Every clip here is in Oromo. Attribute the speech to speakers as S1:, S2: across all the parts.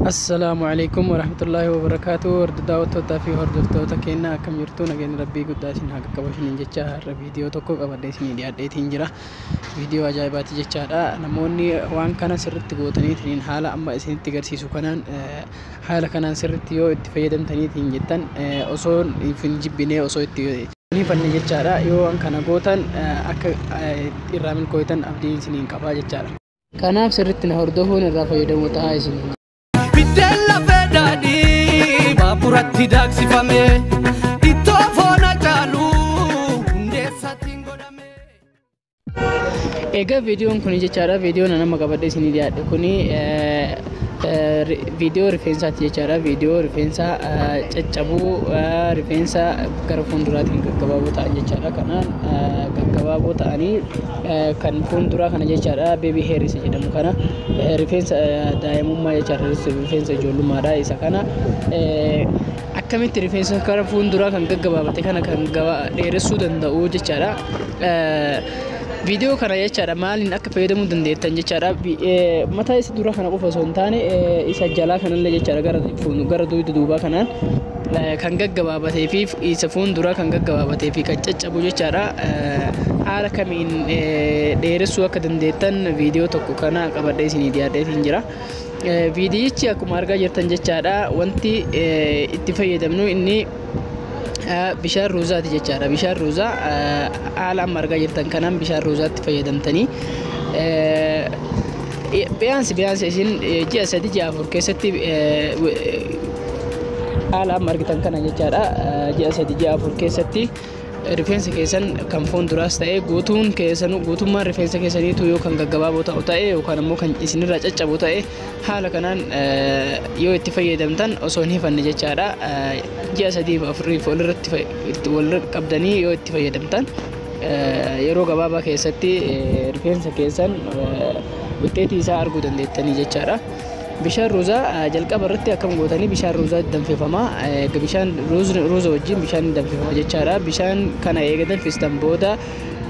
S1: Assalaamu alaikum warahmatullaahi wabarakaatu warda daawwattootaa fi hordoftoota keenya akkam jirtu nageenyi rabbii guddaa isin haa qaqqabu isiniin jecha har'a viidiyoo tokko qabadhee isinii dhiyaadheetiin jira viidiyoo ajaa'ibaati jechaadha namoonni waan kana sirritti gootaniitiin haala amma isinitti agarsiisu kanaan eh, haala kanaan sirritti yoo itti fayyadamtaniitiin jettan eh, osoo hin jibbinee osoo itti ni fanne jechaadha yoo waan kana gootan eh, akka eh, irraa milkooytan abdiin isiniin qabaa jechaadha Kanaaf sirritti na hordofuun irraa fayyadamoo ta'aa isiniin jedha. Biddeen lafee daadhii baaburatti daaksifame ittoo foona caalu hundeessaatiin godhame. Egaa viidiyoon kun jechaadha viidiyoon nama qabadhe isinii dhiyaadhe kun viidiyoo rifeensaati jechaadha viidiyoo rifeensa caccabuu rifeensa gara fuulduraatiin gaggabaaboo ta'an jechaadha kanaan gaggabaaboo ta'anii kan fuulduraa kana jechaadha beebii heer isa jedhamu kana rifeensa daa'imummaa jechaadha rifeensa ijoollummaadha isa kana akkamitti rifeensa kana fuulduraa kan gaggabaabate kana kan dheeressuu danda'u jechaadha. Viidiyoo kana jechaadha maaliin akka fayyadamuu dandeettan jechaadha mataa isa duraa kana qofa osoo hin taane isa jalaa kanallee jechaadha gara gara duuba duubaa kanaan kan gaggabaabatee fi isa fuulduraa kan gaggabaabatee fi kan caccabu jechaadha. Haala kamiin dheeressuu akka dandeettan viidiyoo tokko kana qabadhee isinii dhiyaadhee siin jira. Viidiyichi akkuma argaa jirtan jechaadha wanti itti fayyadamnu inni bishaan ruuzaati jechaadha. Bishaan ruuzaa haala amma argaa jirtan kanaan bishaan ruuzaatti fayyadamtanii Biyaansi biyaansi isin ji'a sadi ji'a afur keessatti haala amma argitan kana jechaadha ji'a sadi ji'a afur keessatti rifeensa keessan kan foon duraas ta'e guutuun keessanuu guutummaan rifeensa keessaniitu yoo kan gaggabaaboo ta'u ta'e yookaan immoo kan isinirraa caccabu ta'e haala kanaan yoo itti fayyadamtan osoo hin hifanne jechaadha ji'a sadiif afuriif walirratti walirra qabdanii yoo itti fayyadamtan yeroo gabaabaa keessatti rifeensa keessan wixxeetii isaa arguu dandeettanii jechaadha. Bishaan ruuzaa jalqaba irratti akkam gootanii bishaan ruuzaa danfifama. Bishaan ruuza wajjin bishaan danfifama jechaadha. Bishaan kana eega danfistan booda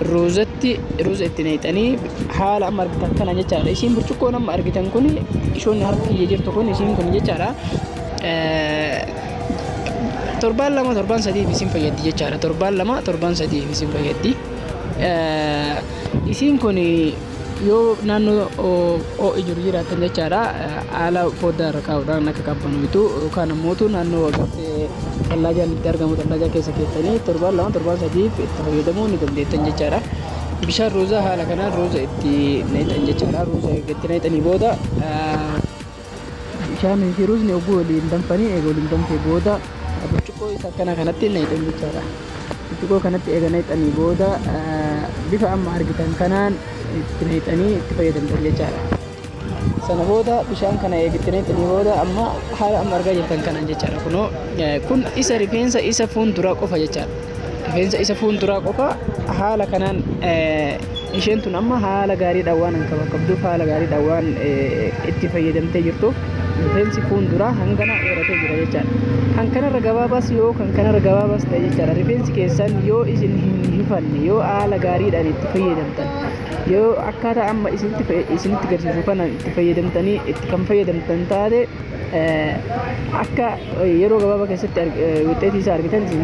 S1: ruuzatti ruuza itti naqxanii haala amma argitan kana jechaadha. Isiin burcuqqoon amma argitan kun ishoon harki kiyya jirtu kun isiin kun jechaadha. Torbaan lama torbaan sadiif isin fayyaddi jechaadha. Torbaan lama torbaan sadiif isin fayyaddi. Isiin kun yoo naannoo ho'i jiru jiraatan jechaadha haala foddaa irra kaa'uudhaan akka qabbanooytu yookaan ammoo naannoo tallaajaan itti argamu tallaajaa keessa keessanii torbaan lama torbaan sadiif itti fayyadamuu ni dandeettan jechaadha. Bishaan ruuzaa haala kanaan ruuza itti naqxan jechaadha. Ruuza erga itti naqxanii booda Bishaan fi ruuzni oguu waliin danfanii eega waliin danfee booda burcuqqoo isa akkanaa kanatti naqxan jechaadha. Burcuqqoo kanatti eega naqxanii booda bifa amma argitan kanaan itti naqxanii itti fayyadamtan jechaadha. Sana booda bishaan kana eega itti naqxanii booda amma haala amma argaa jirtan kanaan jechaadha. Kunoo kun isa rifeensa isa fuulduraa qofa jechaadha. Rifeensa isa fuulduraa qofa haala kanaan isheen tun amma haala gaariidhaan waan hin qabduuf haala gaariidhaan waan itti fayyadamtee jirtuuf rifeensi fuulduraa hangana dheeratee jira jechaadha. Kan kanarra gabaabaas yoo kan kanarra gabaabaas ta'e jechaadha. Rifeensi keessan yoo isin hin hifanne yoo haala gaariidhaan itti fayyadamtan yoo akkaataa amma isinitti garsiisu kanaan itti fayyadamtanii itti kan fayyadamtan taate akka yeroo gabaabaa keessatti wixxeetii isaa argitan isin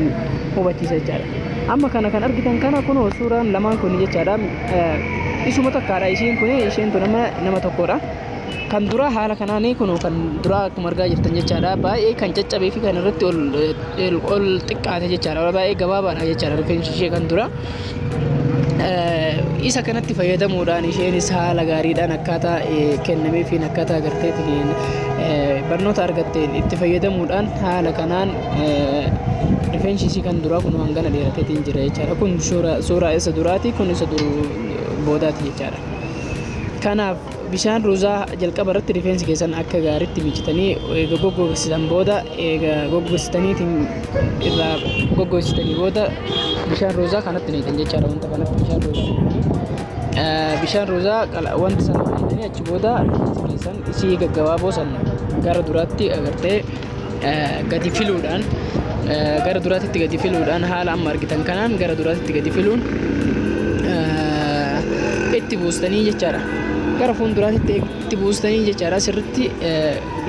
S1: hubachiisa jechaadha. Amma kana kan argitan kana kunoo suuraan lamaan kun jechaadha. Isuma takkaadha isheen kun isheen tun amma nama tokkodha. Kan duraa haala kanaan kunoo kan duraa akkuma argaa jirtan jechaadha. Baay'ee kan caccabee fi kan irratti ol xiqqaate jechaadha. Baay'ee gabaabaadha jechaadha rifeensi ishee kan duraa. isa kanatti fayyadamuudhaan isheenis haala gaariidhaan akkaataa kennameefiin akkaataa agarteetiin barnoota argatteen itti fayyadamuudhaan haala kanaan rifeensi isii kan duraa kun hangana dheerateetiin jira jechaadha. Kun suuraa isa duraati kun isa boodaati jechaadha. Kanaaf Bishaan ruuzaa jalqaba irratti rifeensi keessan akka gaariitti miicitanii eega goggogsitanii booda eega goggogsitaniitiin irraa goggogsitanii booda bishaan ruuzaa kanatti naqxan jechaadha wanta kanatti bishaan ruuzaa naqxanii bishaan ruuzaa wanta sana naqxanii achi booda rifeensi keessan isii gaggabaaboo san gara duraatti agartee gadi filuudhaan gara duraatitti gadi filuudhaan haala amma argitan kanaan gara duraatitti gadi filuun itti buustanii jechaadha. Gara fuulduraatitti itti buustanii jechaadha sirriitti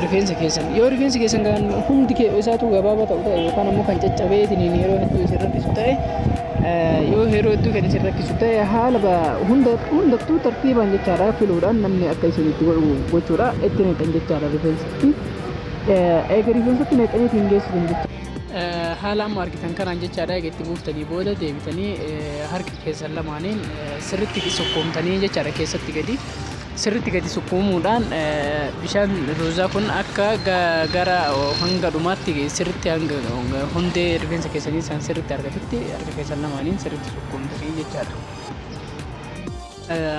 S1: rifeensa keessan. Yoo rifeensi keessan kan hundi isaatu gabaabaa ta'u ta'e yookaan ammoo kan caccabee itiniin yeroo hedduu isin rakkisu ta'e yoo yeroo hedduu kan isin rakkisu ta'e haala hunda hundattuu tartiibaan jechaadha filuudhaan namni akka isin itti godhu gochuudha itti naqan jechaadha rifeensa. Eega rifeensatti naqxanii ittiin geessitan jechuudha. Haala amma argitan kanaan jechaadha eega itti buuftanii booda deebitanii harka keessan lamaaniin sirriitti sukkuumtanii jechaadha keessatti gadi sirriitti gadi sukkuumuudhaan bishaan ruuzaa kun akka gara hanga dhumaatti sirriitti hanga hundee rifeensa keessanii isaan sirriitti argatutti harka keessan lamaaniin sirriitti sukkuumtanii jechaadha.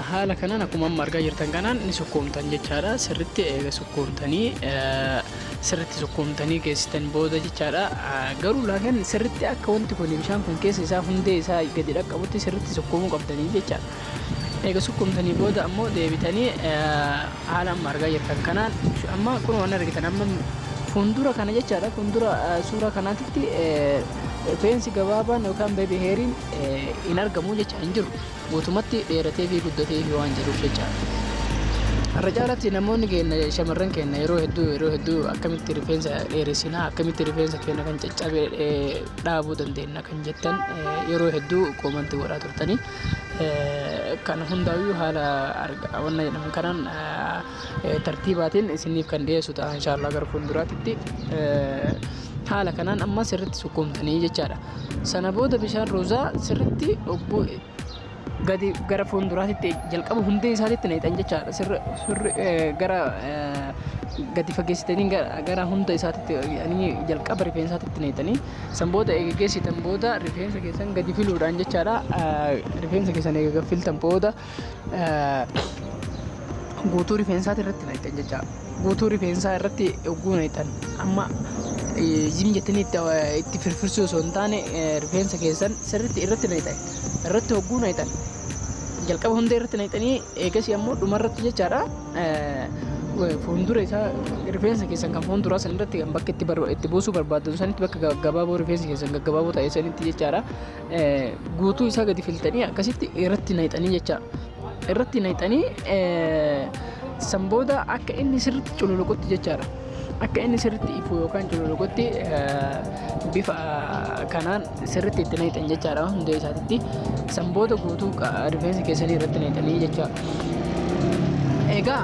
S1: Haala kanaan akkuma amma argaa jirtan kanaan ni sukkuumtan jechaadha. Sirritti eega sukkuumtanii sirritti sukkuumtanii geessitan booda jechaadha. Garuu laakin sirritti akka wanti kun bishaan kun keessa isaa hundee isaa gadi dhaqqabutti sirritti sukkuumuu qabdanii jechaadha. Eega sukkuumtanii booda ammoo deebitanii haala amma argaa jirtan kanaan amma kun waan argitan amma fuuldura kana jechaadha fuuldura suuraa kanaatitti rifeensi gabaabaan yookaan beebi heeriin hin argamu jecha hin jiru. guutumatti dheerateefi guddateefi waan jiruuf jecha. Irra caalatti namoonni keenna shamarran keenna yeroo hedduu yeroo hedduu akkamitti rifeensa dheeressinaa akkamitti rifeensa keenna kan caccabe dhaabuu dandeenna kan jettan yeroo hedduu koomantii godhaa turtanii kan hundaa'uu haala wanna jedhaman kanaan tartiibaatiin isiniif kan dhiyeessu ta'a inshaallah gara fuulduraatitti haala kanaan amma sirritti sukkuumtanii jechaadha. Sana booda bishaan ruuzaa sirritti ogguu gadi gara fuulduraatitti jalqaba hundee isaatitti naqxan jechaadha. Sirri sirri eh, gara eh, gadi fageessitanii gara, gara hunda isaatitti ani jalqaba rifeensaatitti naqxanii san booda eega geessitan booda rifeensa keessan gadi filuudhaan jechaadha. Eh, Rifeensa keessan eega gadi filtan booda guutuu rifeensaati irratti naqxan jecha guutuu rifeensaa irratti oguu naqxan amma zim jettanii itti firfirsuu osoo hin taane rifeensa keessan sirriitti irratti naqxan irratti oguu naqxan jalqaba hunda irratti naqxanii eegasii ammoo dhumarratti jechaadha fuuldura isaa rifeensa keessan kan fuulduraa san irratti kan bakka itti buusuu barbaaddan sanitti bakka gaggabaaboo rifeensa keessan gaggabaaboo ta'e sanitti jechaadha guutuu isaa gadi filtanii akkasitti irratti naqxanii jecha irratti naqxanii san booda akka inni sirriitti cululuqutti jechaadha. Akka inni sirriitti ifu yookaan cululuqutti bifa kanaan sirriitti itti naqxan jechaadha hundee isaatitti. San booda guutuu rifeensa keessanii irratti naqxanii jecha. Egaa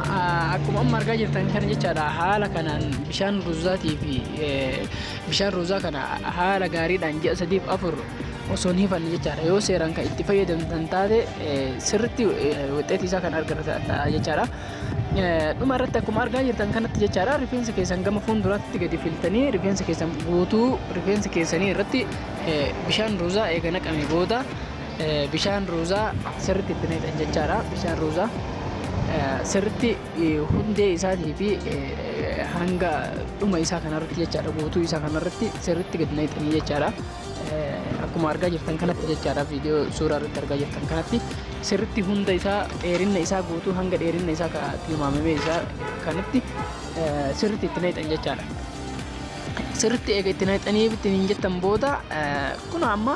S1: akkuma amma argaa jirtan kana jechaadha haala kanaan bishaan ruzaatii fi Bishaan ruuzaa kana haala gaariidhaan ji'a sadiif afur osoo hin hifanne jechaadha. Yoo seeraan kan itti fayyadamtan taate sirriitti wixeetii isaa kan argatan ta'a jechaadha. Dhuma irratti akkuma argaa jirtan kanatti jechaadha rifeensa keessan gama fuulduraatti gadi filtanii rifeensa keessan guutuu rifeensa keessanii irratti bishaan ruuzaa eega naqame booda bishaan ruuzaa sirriitti itti naqxan jechaadha. Bishaan ruuzaa sirriitti hundee isaatii fi hanga dhuma isaa kanarratti jechaadha guutuu isaa kanarratti sirriitti gad naqxanii jechaadha. Akkuma argaa jirtan kanatti jechaadha viidiyoo suuraa irratti argaa jirtan kanatti sirriitti hunda isaa dheerinna isaa guutuu hanga dheerinna isaa tilmaamamee isaa kanatti sirriitti itti naqxan jechaadha. sirritti eega itti naqxanii itti hin jettan booda kun amma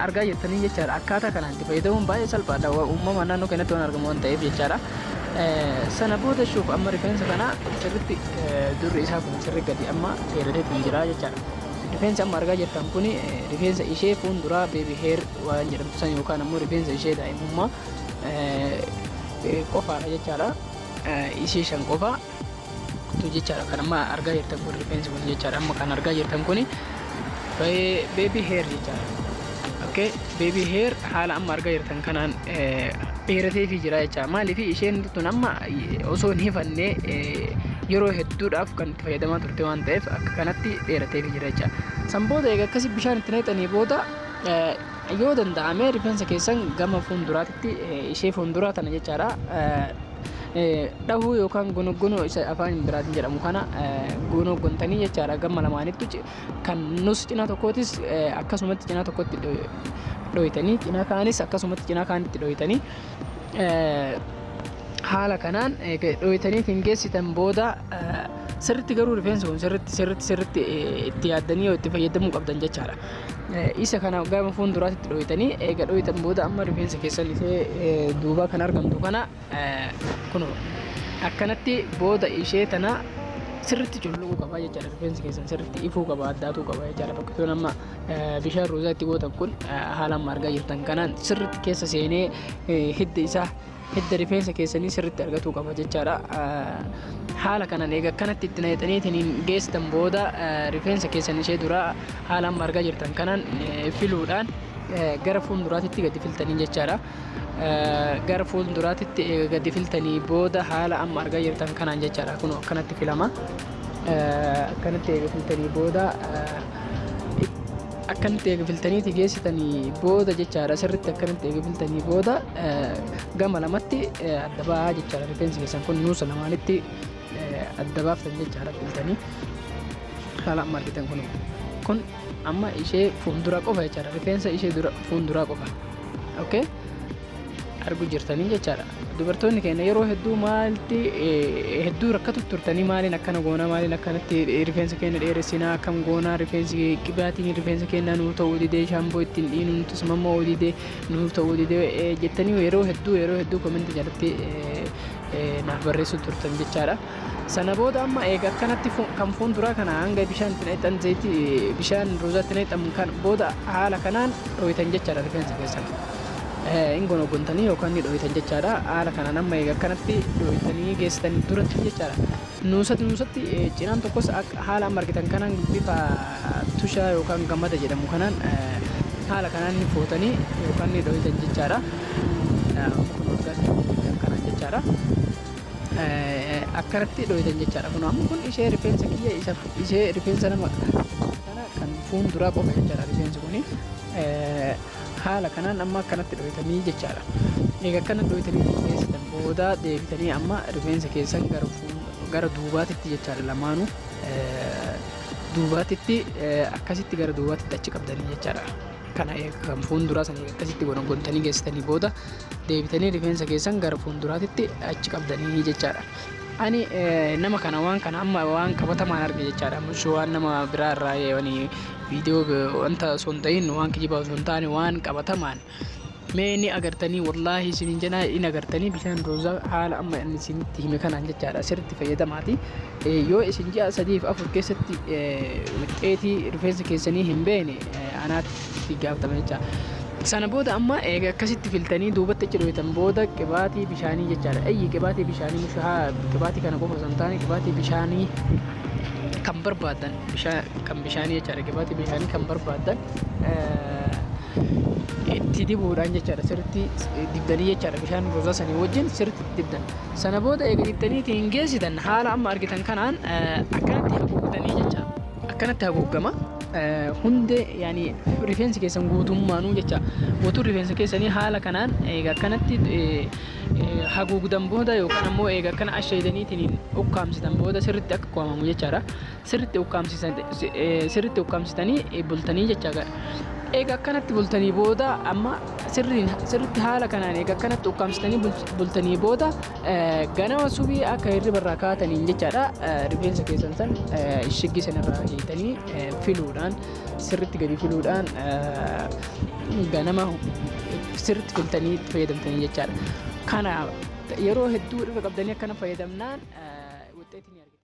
S1: argaa jirtanii jechaadha akkaataa kanaan itti fayyadamuun baay'ee salphaadha uumamaan naannoo keenyatti waan argamu waan ta'eef jechaadha. Sana booda shuuf amma rifeensa kana sirritti durri isaa kun sirri gadi amma dheeratee kun jira jechaadha. Rifeensi amma argaa jirtan kun rifeensa ishee fuulduraa beebi heer waan jedhamtu san yookaan ammoo rifeensa ishee daa'imummaa qofaadha jechaadha. Ishee shan qofa. kutu jechaadha kan amma argaa jirtan kun rifeensi kun jechaadha amma kan argaa jirtan kun beebii heer jechaadha okay beebii heer haala amma argaa jirtan kanaan dheeratee fi jira jecha maaliif isheen tun amma osoo hin hifanne yeroo hedduudhaaf kan itti fayyadamaa turte waan ta'eef akka kanatti dheeratee fi jira jecha san booda egaa akkasii bishaan itti naqxanii booda yoo danda'ame rifeensa keessan gama fuulduraatti ishee fuulduraa tana jechaadha dhahuu yookaan gonoggonoo isa afaan biraatiin jedhamu kana gonoggontanii jechaadha gama lamaanittu kan nus cina tokkootis akkasumatti cina tokkotti dhoytanii cina kaanis akkasumatti cina kaanitti dhoytanii haala kanaan dhoytaniitiin geessitan booda sirritti garuu rifeensi kun sirritti sirritti sirritti itti yaaddanii yoo itti fayyadamuu qabdan jechaadha. Isa kana gama fuulduraatti itti dhooytanii eega dhooytan booda amma rifeensa keessan ishee duubaa kan argamtu kana kun akkanatti booda ishee tana sirritti culluquu qaba jechaadha rifeensi keessan sirritti ifuu qaba addaatuu qaba jechaadha fakkisuun amma bishaan ruuzaa itti gootan kun haala amma argaa jirtan kanaan sirritti keessa seenee hidda isaa hidda rifeensa keessanii sirriitti argatuu qaba jechaadha. Haala kanaan egaa kanatti itti naqxaniitiin geessan booda rifeensa keessan ishee duraa haala amma argaa jirtan kanaan filuudhaan gara fuulduraatitti gadi filtanii jechaadha. Gara fuulduraatitti gadi filtanii booda haala amma argaa jirtan kanaan jechaadha kun akkanatti filama. Akkanatti eega filtanii booda Akkamitti eega filtaniiti geessitanii booda jechaadha sirritti akkamitti eega filtanii booda gama lamatti adda ba'aa jechaadha rifeensi keessan kun nuusa lamaanitti adda baaftan jechaadha filtanii haala amma argitan kun kun amma ishee fuuldura qofa jechaadha rifeensa ishee dura fuulduraa qofa okay argu jirtanii jechaadha. Dubartoonni keenya yeroo hedduu maalti hedduu rakkatu turtanii maaliin akkana goonaa maaliin akkanatti rifeensa keenya dheeressinaa akkam goonaa rifeensi qibaatiin rifeensa keenya nuu ta'uu didee shaamboo ittiin dhiinu nuti sumammoo didee nuu ta'uu didee jettanii yeroo hedduu yeroo hedduu kominti jalatti naaf barreessu turtan jechaadha. Sana booda amma eega akkanatti kan fuunduraa kana hanga bishaan itti naqxan zayitii bishaan ruuzaa itti naqxan kan booda haala kanaan dhooytan jechaadha rifeensa keessan. Hin gonogontanii yookaan ni dhooytan jechaadha. Haala kanaan amma eega akkanatti dhooytanii geessitanii duratti jechaadha. Nuusatti nuusatti cinaan tokkos haala amma argitan kanaan bifa tushaa yookaan gamada jedhamu kanaan haala kanaan ni footanii yookaan ni dhooytan jechaadha. Amma kun waggaa sadii jechuudha kanaan jechaadha. Akkanatti dhooytan jechaadha kun amma kun ishee rifeensa kiyya isa ishee rifeensa nama kana kan fuun duraa qofa jechaadha rifeensi kun haala kanaan amma akkanatti dhooytanii jechaadha eega akkana dhooytanii qulqulleessitan booda deebitanii amma rifeensa keessan gara fuun gara duubaatitti jechaadha lamaanuu duubaatitti akkasitti gara duubaatitti achi qabdanii jechaadha. kana kan fuulduraa sana akkasitti gonogontanii geessitanii booda deebitanii rifeensa keessan gara fuulduraatitti achi qabdanii jechaadha. Ani eh, nama kana waan kana amma waan qabatamaan arge jechaadha. Mushi waan nama biraa irraa eh, wani viidiyoo eh, wanta osoo hin ta'in waan kijibaa osoo hin taane waan qabatamaan Mee ni agartanii wallaahi isiniin jenaa in agartanii bishaan roozaa haala amma inni isinitti hime kanaan jechaadha sirriitti fayyadamaati. Yoo isin ji'a sadiif afur keessatti wixxeetii rifeensa keessanii hin beekne anaatti gaafatama jecha. Sana booda amma eega akkasitti filtanii duubatti achi dhooytan booda qibaatii bishaanii jechaadha. Ayyi qibaatii bishaanii mushahaa qibaatii kana qofa osoo hin taane qibaatii bishaanii kan barbaadan kan bishaanii jechaadha qibaatii bishaanii kan barbaadan itti dibuudhaan jechaadha sirriitti dibdanii jechaadha bishaan rozaa sanii wajjin sirriitti dibdan sana booda eega dibdanii ittiin geessitan haala amma argitan kanaan akkanatti haguugdanii jecha akkanatti haguuggama hundee yaani rifeensi keessan guutummaanuu jecha guutuu rifeensa keessanii haala kanaan eega akkanatti haguugdan booda yookaan ammoo eega akkana asheedaniitiin ukkaamsitan booda sirriitti akka qo'amamu jechaadha sirritti ukkaamsisan sirritti ukkaamsitanii bultanii jecha gara eega akkanatti bultanii booda amma sirriin sirritti haala kanaan eega akkanatti ukkaamsitanii bul- bultanii booda eh, ganama subii akka hirriba irraa kaataniin jechaadha eh, rifeensa keessan san eh, shiggii san irraa hiitanii eh, filuudhaan sirritti gadi filuudhaan eh, ganama sirritti filtanii itti fayyadamtanii jechaadha kana yeroo hedduu irra qabdanii akkana fayyadamnaan eh, wuxxeetii ni argina.